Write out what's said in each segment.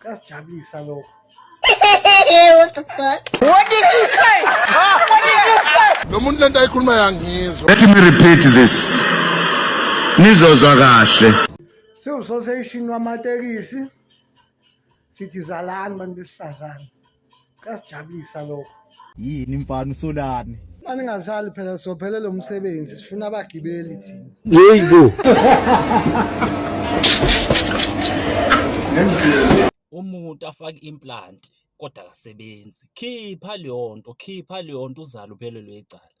kuyasijabulisa lokho What the fuck? What did you say? What did you say? Lo muntu lento ayikhuluma yangizwa. Let me repeat this. Nizozwa kahle. Siwusoseshini wamatekisi sithi zalani bantu besifazane. kuyasijabulisa lokho yini mfana usolani mfana ingasali phela sophele lo msebenzi sifuna abagibeli thina yeyi bo umuntu afake implant kodwa akasebenzi khipha leyo nto khipha leyo nto uzale uphelelwe icala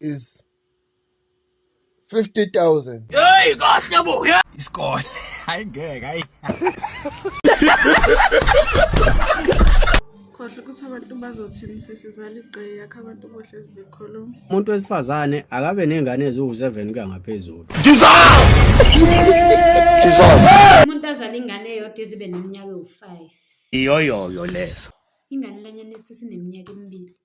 is 50000 hey kahle bo isikole hayi ngeke hayi khohle ukuthi abantu bazothini sesizala igqeyi yakhe abantu bohle zibekhuluma umuntu wesifazane akabe nengane eziwu-7 kuya ngaphezulu umuntu azala ingane eyodwa ezibe neminyaka ewu-5 iyoyoyo lezo ingane lanyana esu sineminyaka emibili